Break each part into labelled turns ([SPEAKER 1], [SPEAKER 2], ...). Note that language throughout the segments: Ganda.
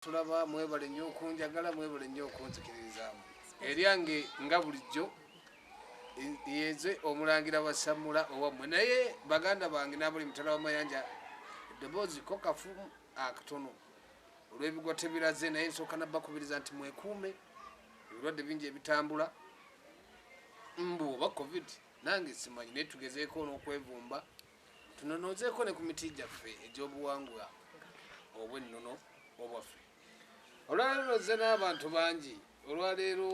[SPEAKER 1] Tulaba mwebale nnyo okunjagala mwebale nnyo okunzikiririzaamu eryange nga bulijjo yenze omulangira wa samula owammwe naye baganda bange nabuli mutala wamayanja eddoboozi ko kafu akatono olw'ebigwa tebiraze naye nsooka nabbakubiriza nti mwekuume ebirwadde bingi ebitambula mbu oba covid nange simanyi naye tugezeeko n'okwevumba Tunonoozeeko ne ku miti gyaffe egy'obuwangwa obw'ennono obwaffe. Olwaleero nozze n'abantu bangi. Olwaleero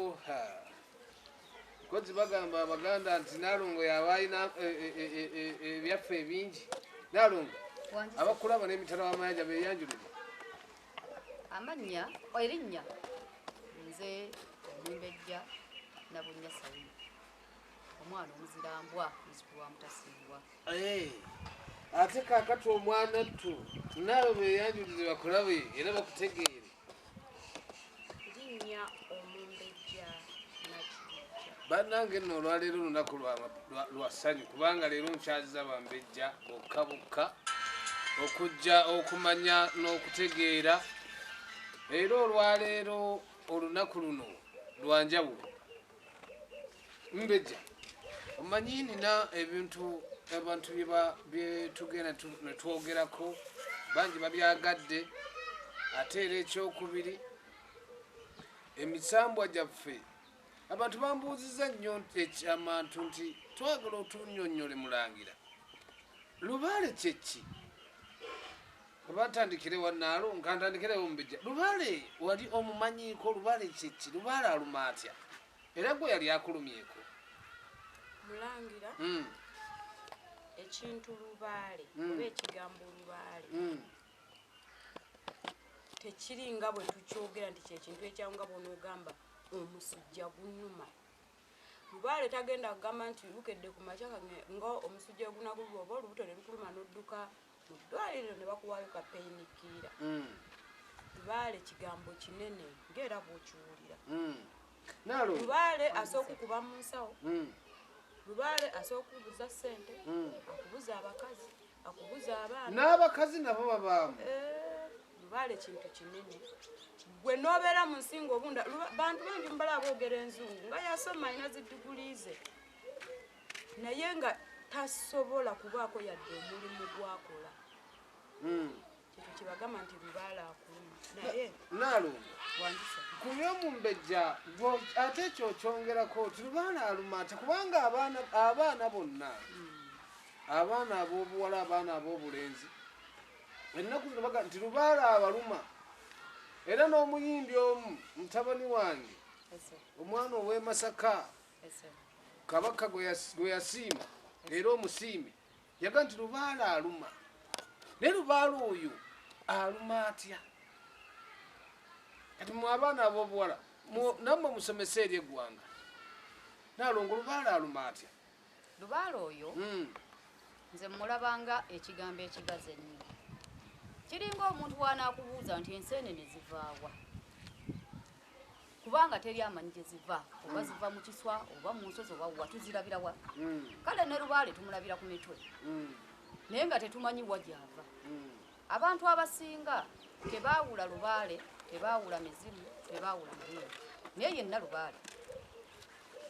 [SPEAKER 1] kozi bagamba Abaganda nti Nalongo yaba alina e, e, e, ebyaffe ebingi. Nalongo, abakulaba n'emitala w'amayanja beeyanjulire.
[SPEAKER 2] Amannya, erinnya, nze Nyimbejja Nabunnya Sayima. omwana omuzira mbwa muzukulu
[SPEAKER 1] wa mutasimbwa eh, ate kakati omwana ttu naawe beyanjulize bakulabe era bakutegeere
[SPEAKER 3] linnya omumbejja
[SPEAKER 1] bannange nno olwaleero olunaku lwa ssanyu kubanga leero nkyaziza bambejja bokka bokka okujja okumanya n'okutegeera era olwaleero olunaku luno lwanjawulo Mbeja, omanyi nina ebintu abantu byetugenda netwogerako bangi babyagadde ate era ekyokubiri emisambwa gyaffe abantu bambuuziza nnyo nti ekyamantu nti twagala otunyonyole mulangira lubaale kyeki Oba ntandikire wa Naalu? Nka ntandikire Omumbejja. Lubaale wali omumanyiiko? Lubaale kye ki? Lubaale aluma atya? Era gwe yali akulumyeko?
[SPEAKER 3] Mulangira, hmm. ekintu lubaale hmm. oba ekigambo lubaale hmm. tekiri nga bwe tukyogera nti kyekintu ekyawo nga bwonaogamba omusujja gunuma lubaale tagenda kugamba nti lukedde ku makya nga omusujja ogunagulwa oba olubuto ne lukuluma n'odduka mu ddwaliro ne bakuwaayo ka peyinikiira lubaale mm. kigambo kinene ng'era bw'okiwulira mm. lubaale asooka okuba mu nsawo mm. lubaale asooka okubuza ssente akubuza abakazi akubuza abaana n'abakazi nabo
[SPEAKER 1] babaamu eh, lubaale
[SPEAKER 3] kintu kinene gwe n'obeera mu nsinga obunda bantu bangi mubala aboogera enzungu nga yasoma alina ziddiguli ze naye nga tasobola kubaako yadde omulimu gwakola hmm. ekyo kyebagamba nti lubaala akuluma naye nalumba kuba omumbejja
[SPEAKER 1] ate ekyo okyongerako nti lubaala aluma ate kubanga abaana bonna hmm. abaana ab'obuwala abaana ab'obulenzi ennaku zino baga nti lubaala abaluma era n'omuyimbi omu mutabani wange omwana ow'emasaka kabaka gwe yasiima era omusiime yaga nti lubaala aluma naye lubaala oyo aluma atya kati mu abaana abobuwala nammwe musomesa eri eggwanga nalongo lubaala aluma atya lubaala
[SPEAKER 2] oyo hmm. nze mulabanga ekigambo ekigazi ennyo kiringa omuntu wanaakubuuza nti enseenene zivaawa kubanga teri amanyi gye ziva oba mm. ziva mu kiswa oba mu nsozi oba wa tuzirabira wa mm. kale ne lubaale tumulabira ku mitwe mm. naye nga tetumanyi wa gyava abantu abasinga tebaawula lubaale tebaawula mizimu tebaawula muyinga naye yenna lubaale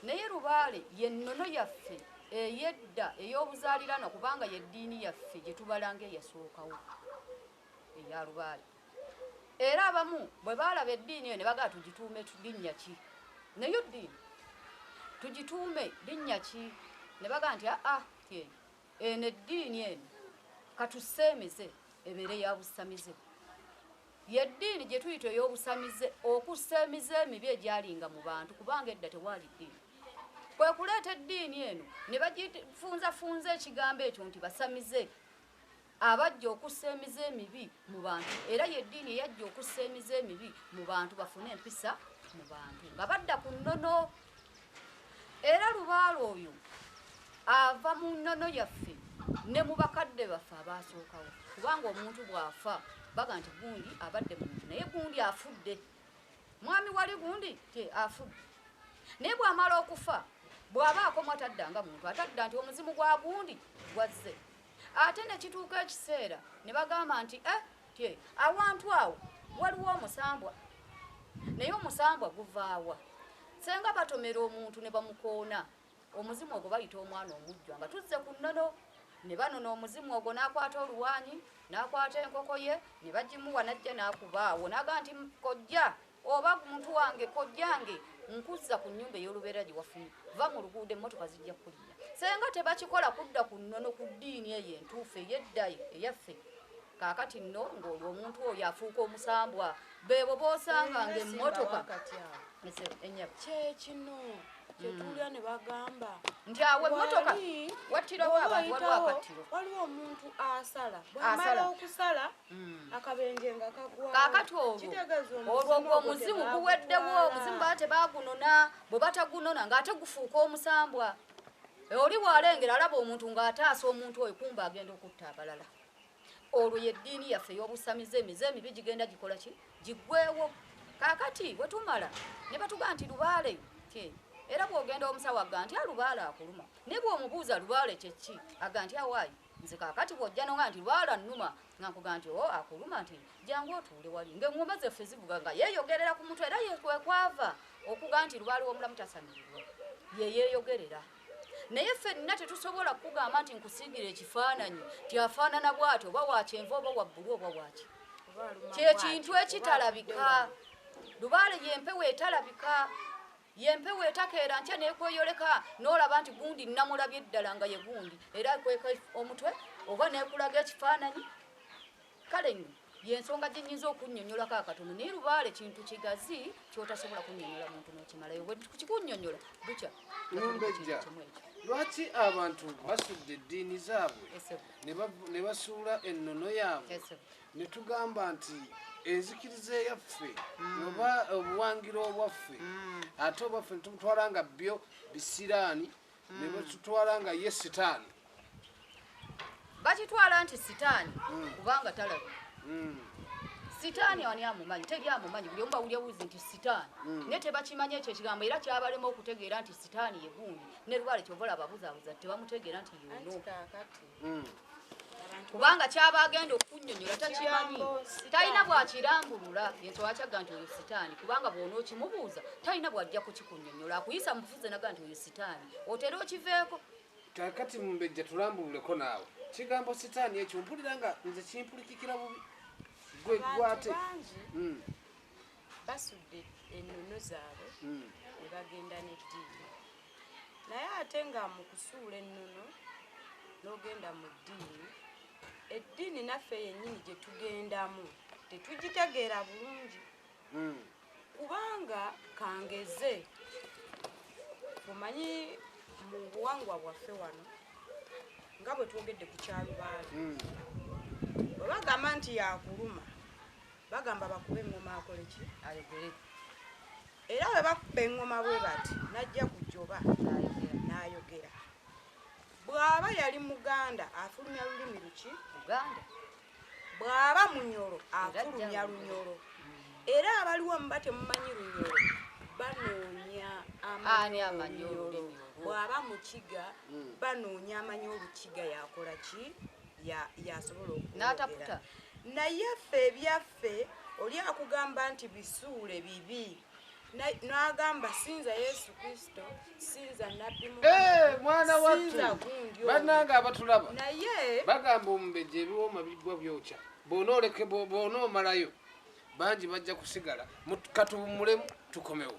[SPEAKER 2] naye lubaale yennono yaffe eyedda ey'obuzaalirano kubanga yeddiini yaffe gye tubalanga eyasookawo eya lubaale Era abamu bwe baalaba eddiini eyo ne bagamba tugituume linnya ki? Nayo ddiini. Tugituume linnya ki? Ne bagamba nti aa, eyo, eno eddiini eno ka tuseemize ebeere ya busamize. Ye ddiini gye tuyita ey'obusamize, okussa emize emibi egyalinga mu bantu, kubanga edda tewaali ddiini. Kwe kuleeta eddiini eno ne bagifunzafunza ekigambo ekyo nti basamize. Abajja okussa emize emibi mu bantu era y'eddiini eyajja okussa emize emibi mu bantu bafune empisa mu bantu nga badda ku nnono. Era lubaale oyo ava mu nnono yaffe ne mu bakadde baffe abaasookawo kubanga omuntu bw'afa baga nti gundi abadde muntu naye gundi afudde mwami wali gundi te afudde naye bw'amala okufa bw'aba akomwa tadda nga muntu atadda nti omuzimu gwa gundi gwazze Ate ne kituuka ekiseera ne bagamba nti, Eh, tye, awantu awo waliwo omusambwa. Naye omusambwa guva wa? Ssenga batomera omuntu ne bamukoona, omuzimu ogwo bayita omwana omujjwa. Nga tuzze ku nnono, ne banona omuzimu ogwo n'akwata oluwaanyi, n'akwata enkoko ye, ne bagimuwa n'ajja n'akuba awo. N'agamba nti, Kojja, Oba muntu wange kojja nge nkuzza ku nyumba eyoluberera gyewafunye vva mu luguudo emmotoka zijja kukulinnya. Senga tebakikola kudda ku nnono ku ddiini eyo entuufu eyedda eyaffe kaakati nno ng'olwo omuntu oyo afuuka omusambwa beebo b'osanga ng'emmotoka ennyabo kyekino
[SPEAKER 3] kyetulya ne bagamba nti awo emmotoka
[SPEAKER 2] wattirawo abantu waliwo akattiro waliwo omuntu
[SPEAKER 3] asala bwamala okusala kakati
[SPEAKER 2] olwo olwo omuzimu guweddewo omuzimu baa tebagunona bwe batagunona ng'ate gufuuka omusambwa e, oli waalengera alaba omuntu ng'ataasa omuntu oyo kumba agenda okutta abalala olwo yeddiini yaffe ey'obusamize emize emibi gigenda gikola ki giggwewo kakati bwe tumala ne batuga nti lubaale ke era bw'ogenda omusawo aga nti alubaale akuluma naye bw'omubuuza lubaale kyekki aga nti awaayi Nze kakati bwojja nonga nti lwala numa nga nkuga nti o oh, akuluma nti jangu otuule wali nga engomba zeffe zivuga nga yeyogerera ku mutwe era yekwekwava okuga nti lubaali womulamu tasamirirwa yeyeyogerera naye fenna tetusobola kukugamba nti nkusiigira ekifaananyi ti afaanana bwati oba wakyenva oba wabbulu oba waki kyekintu ekitalabika lubaale yempewo etalabika Ye mpewo etakeera nkya n'ekweyoleka n'olaba nti gundi namulabye ddala nga ye gundi era ekweka omutwe oba n'ekulaga ekifaananyi kale nno ye nsonga gye nnyinza okunnyonnyolako akatono naye lubaale kintu kigazi ky'otasobola kunnyonnyola muntu n'okimalayo bwe kikunnyonnyola bukya kimu ekyo
[SPEAKER 1] lwaki abantu basudde eddiini zaabwe ne basuula ennono yaabwe Ne tugamba nti, Enzikiriza eyaffe, oba obuwangiro obwaffe, ate oba ffe ne tubutwala nga byo bisiraani, ne batutwala nga ye sitaani.
[SPEAKER 2] Bakitwala nti sitaani kubanga talabika. Sitaani ani amumanyi? Teri amumanyi. Buli omu bawulira buzi nti sitaani. Naye tebakimanyi ekyo ekigambo era kyabalema okutegeera nti sitaani ye gundi. Ne lubaale kyova olaba ababuzaabuza tebamutegeera nti y'ono. hmm. kubanga kyaba agenda okukunyonyola takimanyi talina bwakirambulula yensonga akyagga nti oyo sitaani kubanga bwona okimubuuza talina bwajja kukikunyonyola akuyisa mubufuzi naga nti oyo sitaani otera okiveeko kakati
[SPEAKER 1] mumbejja tulambululeko naawe kigambo sitaani ekyo mpulira nga nze kimpulikikira bubi gwe gwate hmm.
[SPEAKER 3] basudde ennono zaabwe hmm. ne bagenda n'eddiini Naye ate nga mu kusuula ennono n'ogenda mu ddiini, eddiini naffe yennyini gye tugendamu tetugitegeera bulungi. Hmm. Kubanga kangeze omanyi mu buwangwa bwaffe wano nga bwe twogedde ku kyalubaale hmm. bwe bagamba nti yakuluma bagamba bakube eŋŋoma akoleki ayogere Era bwe bakubba eŋŋoma bwe bati, n'ajja ku jjoba n'ayogera. Bw'aba yali Muganda afulumya lulimi luki? Luganda.
[SPEAKER 2] Bw'aba
[SPEAKER 3] Munyoro afulumya Lunyoro. Mm. Era abaliwo muba temumanyi Lunyoro banoonya
[SPEAKER 2] amanyi olulimi olwo. Bw'aba Mukiga
[SPEAKER 3] mm. banoonya amanyi Olukiga yakola ki? Yasobola okwogera. N'ataputa.
[SPEAKER 2] Naye
[SPEAKER 3] ffe ebyaffe. Naffe oli akugamba nti bisuule bibi n'agamba sinza yesu kristo sinza
[SPEAKER 1] nabbi eh, mwana wattubannange abatulaba naye bagamba
[SPEAKER 3] omubeja
[SPEAKER 1] ebiwooma bigwa byokya boona omalayo bangi bajja kusigala katuwummulemu tukomewo